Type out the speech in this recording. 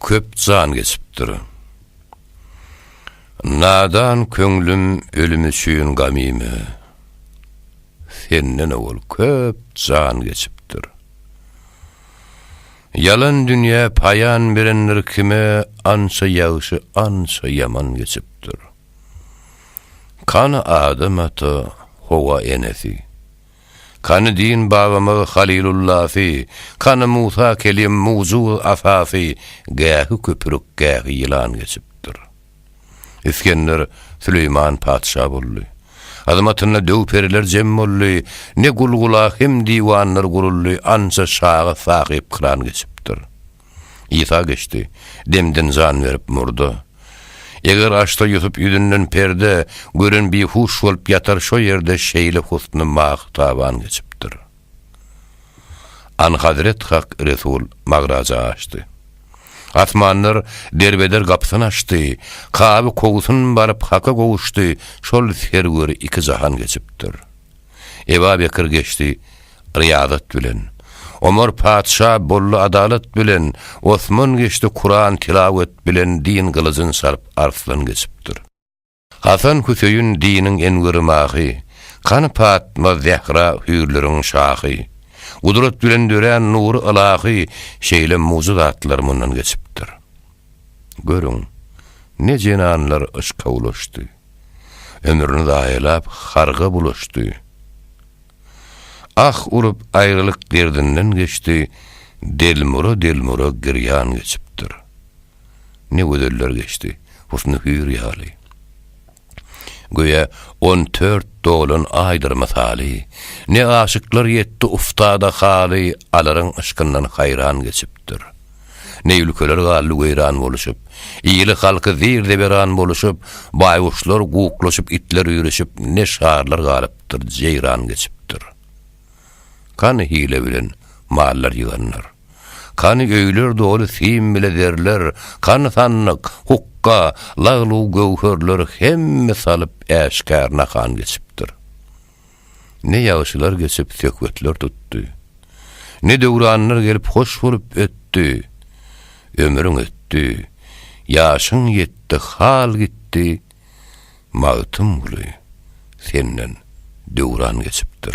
Köp jan geçipdir. Nadan köňlüm ölüm üçin gamymy. Senden owal köp jan geçipdir. Ýalan dünýä paýan berendir kime ança ýagşy ança ýaman geçipdir. Kany adam ata howa enesi. Kany din babamyz Halilullafy, Kany Musa Kelim mujuz asasy, Gähi köpürük, gähi ýylan geçipdir. Isgender Süleýman patyşa boldy. Hyzmatynda döw-periler jem boldy, Ne gul-gula hem diwanlar guruldy, Ança şaga sahypkyran geçipdir. Isa geçdi. Demden jan berip murda. Eger açsa Ýusup ýüzünden perde, gören bihuş bolup ýatar şo ýerde şeýle husny mahy taban geçipdir. Anhazret Hak Resul magraja açdy. Asmanlar derbeder gapysyny açdy. Kaby kowsun baryp Haka gowuşdy, şol serweri iki jahan geçipdir. Eba Bekir geçdi Ryýazat bilen, Omar patyşa boldy adalat bilen, Osman geçdi Kuran tilawet bilen din gylyjyn saryp Arslan geçipdir. Hasan Hüseýin diniň enweri mahy, Kany Patma Zähra hüýrleriň şahy, Gudrat bilen dörän nury ylahy, Şeýle mugyzatlar mundan geçipdir. Görüň, ne jenanlar yşka ulaşdy. Ömrüni zaýalap, harga bulaşdy. Ah urup, aýralyk derdinden geçdi, Delmura-delmura girýan geçipdir. Ne gözeller geçdi, husny hüýr ýaly. Göýä, on dört dolan aýdyr mysaly, Ne aşyklar ýetdi uftada haly, Alaryň yşkyndan haýran geçipdir. Ne ülkeler galdy weýran boluşyp. Ili-halky zir-zeberan boluşyp, Baýguşlar guklaşyp, itler üýrüşip, Ne şarlar galypdyr, jeýran geçipdir. Kany hile bilen mallar ýyganlar? Kany öýler doly sim bile zerler? Kany sandyk, hukga, lag-lug göwherler Hemme salyp äşgär nahan geçipdir. Ne ýagşylar geçip söhbetler tutdy, Ne döwranlar gelip hoş bolup ötdi. Ömrüň ötdi, ýaşyň ýetdi, hal gitdi, Magtymguly, senden döwran geçipdir.